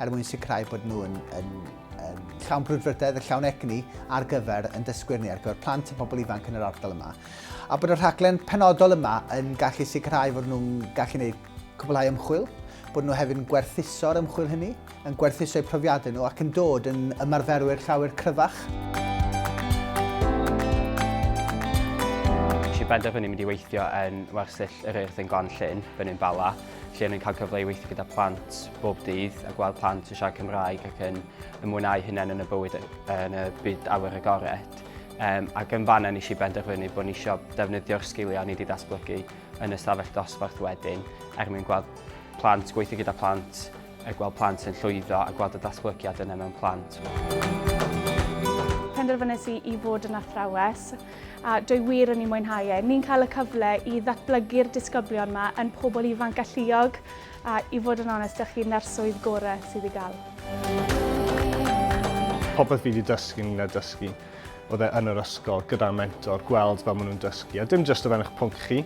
er mwyn sicrhau bod nhw yn, yn, yn llawn brwdfrydedd a llawn egni ar gyfer yn dysgwyr ni, ar gyfer plant a pobl ifanc yn yr ardal yma. A bod y rhaglen penodol yma yn gallu sicrhau fod nhw'n gallu gwneud cwblhau ymchwil, bod nhw hefyd yn gwerthuso'r ymchwil hynny, yn gwerthuso'u profiadau nhw ac yn dod yn ymarferwyr llawer cryfach. Felly benderfynu mynd i weithio yn wersyll yr Urdd yn Glan Llyn, Bynyn Bala, lle ni'n cael cyfle i weithio gyda plant bob dydd a gweld plant yn siarad Cymraeg ac yn ymwneud hynny yn y bywyd yn y byd awyr agored. Um, ac yn fanna nes i benderfynu bod ni eisiau defnyddio'r sgiliau ni wedi datblygu yn y stafell dosbarth wedyn er mwyn gweld plant, gweithio gyda plant, a gweld plant yn llwyddo a gweld y datblygiad yna mewn plant. Penderfynais i i fod yn athrawes a dwi wir yn ei mwynhau e. Ni'n cael y cyfle i ddatblygu'r disgyblion yma yn pobl ifanc alluog a i fod yn onest â chi, na'r swydd gorau sydd i gael. Popeth fi wedi dysgu yn y dysgu oedd e yn yr ysgol gyda mentor, gweld fel maen nhw'n dysgu, a dim jyst o fewn eich pwnc chi,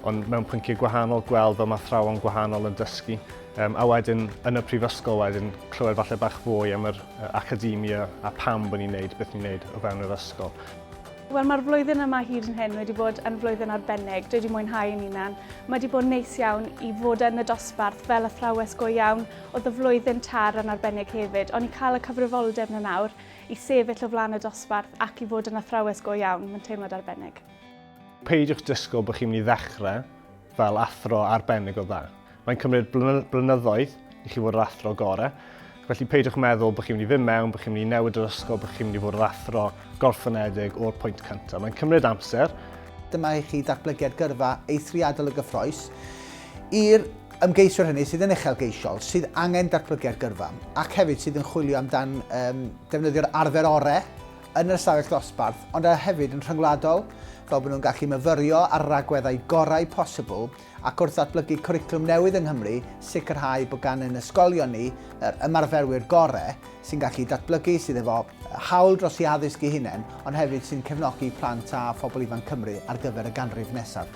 ond mewn pynciau gwahanol, gweld fel mae thrawon gwahanol yn dysgu, um, a wedyn yn y prifysgol wedyn clywed falle bach fwy am yr academia a pam bod ni'n neud beth ni'n neud o fewn yr ysgol. Wel, mae'r flwyddyn yma hyd yn hyn wedi bod yn flwyddyn arbennig. Dwi wedi mwynhau yn unan. Mae wedi bod yn neis iawn i fod yn y dosbarth fel athrawes go iawn. Oedd y flwyddyn tar yn arbennig hefyd, ond i cael y cyfrifoldeb na nawr i sefyll o flaen y dosbarth ac i fod yn athrawes go iawn, mae'n teimlad arbennig. Peidiwch disgwyl bod chi'n mynd i ddechrau fel athro arbennig o dda. Mae'n cymryd blynyddoedd i chi fod yr athro gore, felly peidiwch meddwl bod chi'n mynd i fynd mewn, bod chi'n mynd i newid yr ysgol, bod chi'n mynd i fod yr athro gorffynedig o'r pwynt cyntaf. Mae'n cymryd amser. Dyma i chi ddatblygiad gyrfa eithriadol y gyffroes i'r ymgeisiwr hynny sydd yn uchelgeisiol, sydd angen datblygiad gyrfa, ac hefyd sydd yn chwilio amdan um, defnyddio'r arfer orau yn yr ystafell ddosbarth, ond hefyd yn rhyngwladol, fel bod nhw'n gallu myfyrio ar ragweddau gorau posibl ac wrth ddatblygu cwricwlwm newydd yng Nghymru, sicrhau bod gan ein ysgolion ni yr ymarferwyr gorau sy'n gallu datblygu, sydd efo hawl dros eu haddysg eu hunain, ond hefyd sy'n cefnogi plant a phobl ifanc Cymru ar gyfer y ganrif nesaf.